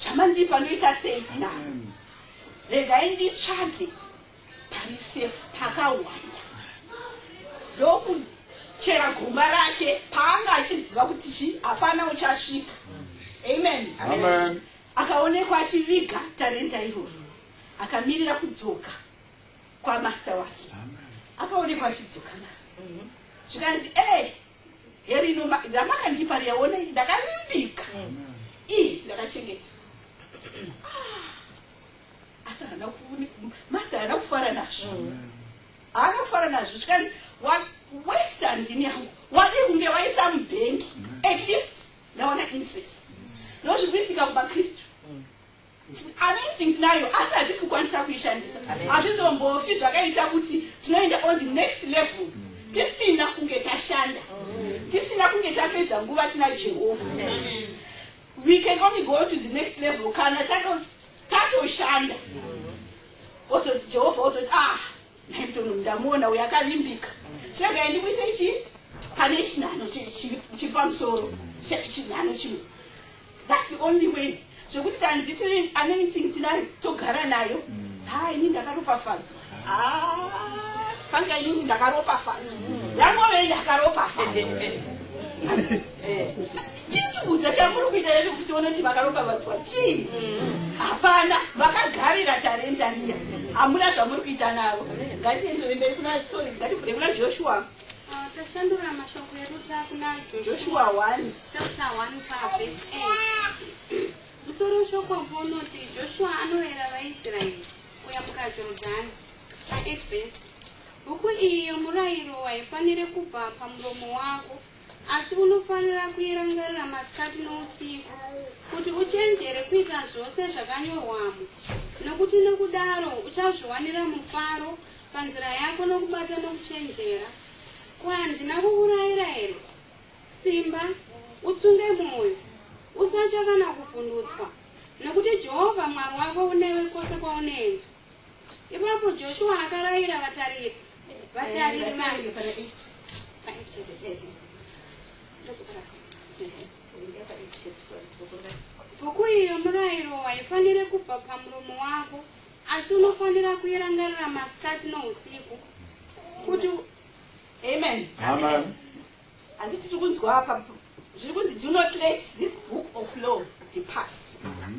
Chamandipa ndoita sei navo? Regai nditsvage pari safe pakawanda. Ndokuchera gomba rake paanga achiziva kuti chi hapana uchasvika. Amen. Amen. Akaonekwa achiviga tarenda iroro. Akamirira kudzoka kwamaster wake. Akaonekwa achidzoka master. Zvikanzi, "Eh, Here ino ramakandipa riya onei ndakavimbika ii ndakachengeta ah, asi haana master haana kufara nazvo haana kufara nazvo zvikanzi wawesta ndini yangu wadi kunge waisa mubhengi at least ndaona interest nozvikuitika kumakristu anointing tinayo asi hatisi kukwanisa kuishandisa hazvizombofi zvakaita kuti tinoenda on the next level tisina kunge tashanda tisina kunge tapedza nguva tina jehovha we can only go to the next level kana tatoshanda ozoti jehovha ozoti ah Hepton ndamuona uyo akavimbika chegai ndikuise chi pane chinhano chiri pamusoro chinhano chimwe thats the only way zvekuti tanzi tiri anointing tinayo togara nayo ha ini ndakaropafadzwa ah, fanga inini ndakaropafadzwa yangove ndakaropafadzwa eh. chindibudza chamuri kuita yacho kuti onoti vakaropavadzwa chii mm. hapana vakagarira tarenda riya hamuna zvamuri kuita navo ngatiendere mberi kuna sorry ngativhure kuna joshua ah, tashandura mashoko edu takuna joshua 1 chapter 1 pavhesi 8 musoro weshoko mbo unoti joshua anorayira vaisraeri kuyambuka jorodhani pa 8 vhesi bhuku iyi yomurayiro haifanire kubva pamuromo wako Asi unofanira kuirangarira masikati nousiku, kuti uchenjere kuita zvose zvakanyorwamo, nokuti nokudaro uchazviwanira mufaro panzira yako nokubata nokuchenjera. Ko handina kukurayira here? Simba, utsunge mwoyo, usatya kana kuvhundutswa, nokuti Jehovha Mwari wako unewe kwose kwaunoenda. Ipapo Joshuwa akarayira vatariri. Bhuku iyi yomurayiro haifanire kubva pamuromo wako, asi unofanira kuirangarira masikati nousiku kuti amen amen handiti tiri kunzwa apa zviri kunzi do not let this book of law depart mm -hmm.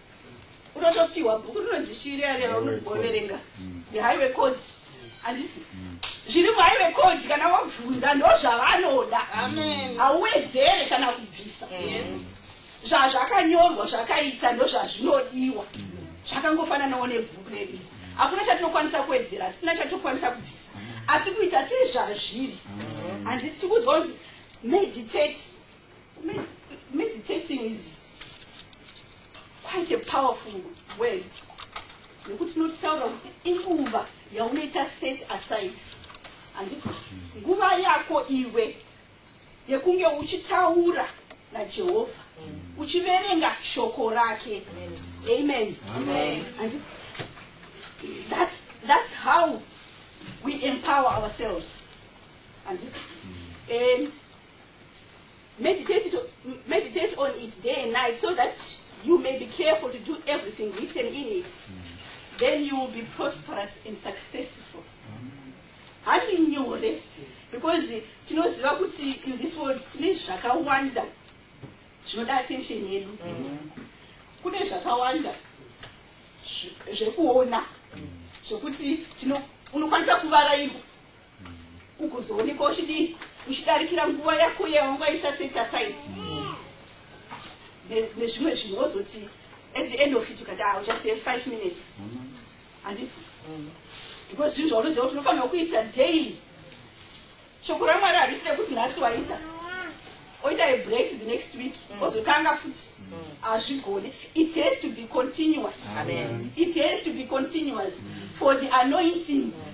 unotopiwa bhuku rinonzi shiri ari aunogoverenga mm. the highway code handisi mm. zviri muhighway code kana wabvunza ndo zvavanoda hauwedzere kana kubvisa zvazvakanyorwa zvakaita ndo zvazvinodiwa mm. zvakangofananawo nebhuku redu hakuna chatinokwanisa kuwedzera hatisina chatinokwanisa kubvisa asi kuita sezvazviri handiti tikuziva kunzi meditate Meditating is quite a powerful word nekuti tinotaura kuti inguva yaunoita set aside handiti nguva yako iwe yekunge uchitaura najehovha uchiverenga shoko rake amen handiti that's, that's how we empower ourselves handiti um, Meditate, it, meditate on it day and night so that you may be careful to do everything written in it. Mm. Then you will be prosperous and successful. Handi nyore because tinoziva kuti in this world tine zvakawanda zvinoda attention yedu. Mm. Kune zvakawanda zvekuona zvekuti unokwanisa kuvara iko ugozoonekwa uchidii uchidarikira nguva yako yawangwaisa set aside nezvimwe zvinhu wozoti at the end of it ukati ah uchasiya five minutes handiti because zvinhu zvaunoziva kuti unofanirwa kuita daily shoko ramwari harisi rekuti nhasi waita oita a break the next week mm. ozotanga futi hazvigone it has to be continuous it has to be continuous for the anointing mm.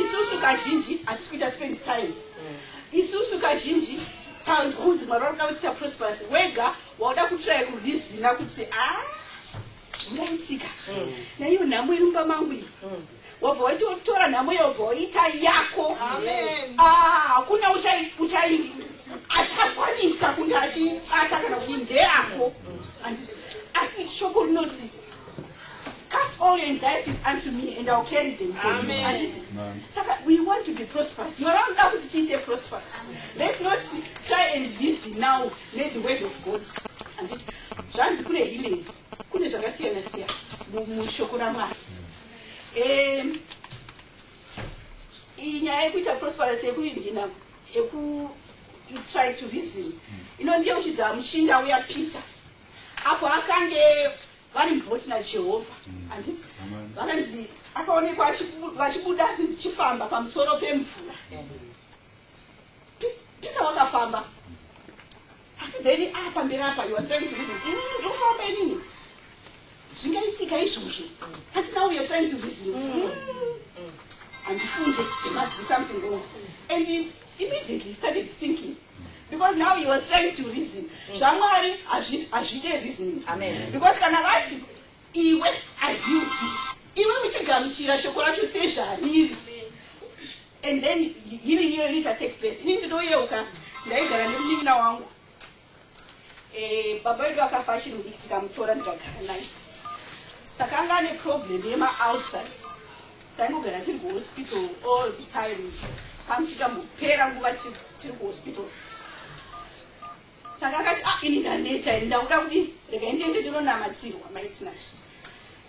isusu kazhinji hatisi kuita spend time isusu kazhinji taundi kunzi mwari vari kuda kuti taprosperous wega wauda kutsvaya kurizina kuti a ah, zvingaitika mm. naiyo nhamo iri mumba mangu iyi mm. wabva waiti wakutora nhamo iyo wabva waita yako ah, hakuna uchai achakwanisa kunge achibata kana kuti ndeyako mm. asi shoko rinoti Cast all your anxieties unto me and I'll carry them for Amen. you. Anditi? Saka we want to be prosperous. Mwari anoda kuti tiite prosperous. Let's not try and live now let the word of God. Anditi? Zvanzi kune healing. Kune zvakasiyana siyana mu- mushoko raMwari. Em, iyi nyaya yekuita prosperous yekuinhina yeku you try to reason inondiyeuchidza muchinda uya peter apo akange Vari brought naJehovha, handiti? Vakanzi akaonekwa achibu- vachibuda ndichifamba pamusoro pemvura. Pe- Peter wakafamba. Asi then ah pamberi apa he was trying to reason. Ini ndofamba inini. Zvingaitika izvozvo. Ati now you're trying to reason. Mm. Handifunge, there must be something wrong. And Immediately he started sinking because now he was trying to reason mm. zvamwari hazvide reasoning because kana vati iwe aziuti iwe uchigamuchira shoko racho sezvariri and then healing iyo inoita take place ini ndinoyeuka ndaigara nemunin'ina wangu Eh, baba vedu vakafa achiri mudiki tikamutora ndikagara naye saka anga ane problem yemaulcers taingogara tiri kuhospital all the time kamusikambopera nguva tiri kuhospital saka akati a ah, ini ndaneta ini ndakuda kudi rega indiende ndinonamatirwa maitinash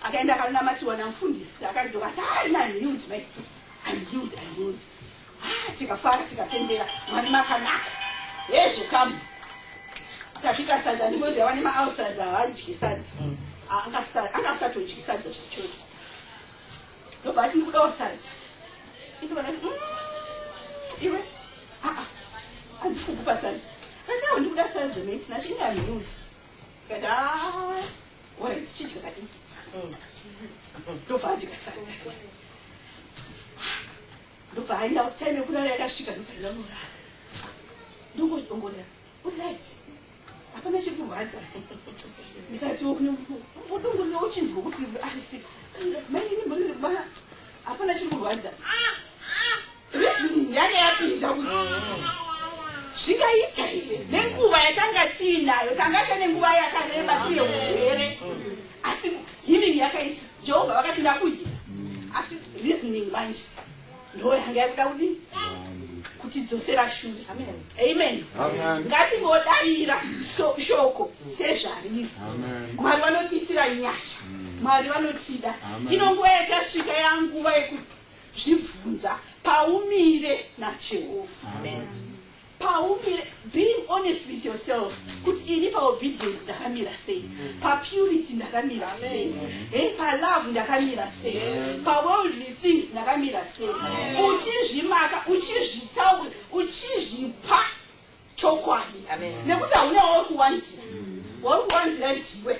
Akaenda akanonamatiwa namufundisi akadzoka ati ah ina I'm healed mates. I'm healed, I'm healed. Ah tikafara tikapembera mwari makanaka. Hezvo kamu. Tasvika sadza ndimozi yava nemaulcers havadyi sadza. Mm. Ah, anga asatodyi sadza zvachose. Ndobva ati ndikudawo sadza. Ndobva ndati mm, iwe ah ah handisi kukupa sadza. Ndati awo ndikuda sadza mate nacho ina I'm healed. Ndikati haa ora tichidya kadiki ndobva adya sadza ndobva aenda time yekurara yakasvika ndobva ndanorara ndongozvidongorera urit hapana chiri kurwadza ndikati odongorera uchinzwa kuti arisi mainini mboniriba hapana chiri kurwadza Reasoning yake yapinda kuti zvingaita here nenguva yatanga tiinayo tanga tine nguva yakareba tine urwere asi healing yakaita jehovha vakati ndakuhina asi reasoning manje ndo yanga yakuda kudii kutidzosera shure amen ngatingodaira shoko sezvariri mwari vanotiitira nyasha mwari vanotida ino nguva yatasvika yanguva yekuti Zvibvunza paumire naJehovha. Paumire, being honest with yourself, kuti ini paobedience ndakamira sei, papurity ndakamira sei, hey, palove ndakamira sei, paworldly things ndakamira sei, uchizvimaka, uchizvitaura, uchizvipa chokwadi, nekuti haunawo kuwanzira, wauri kuwanzira ndiwe.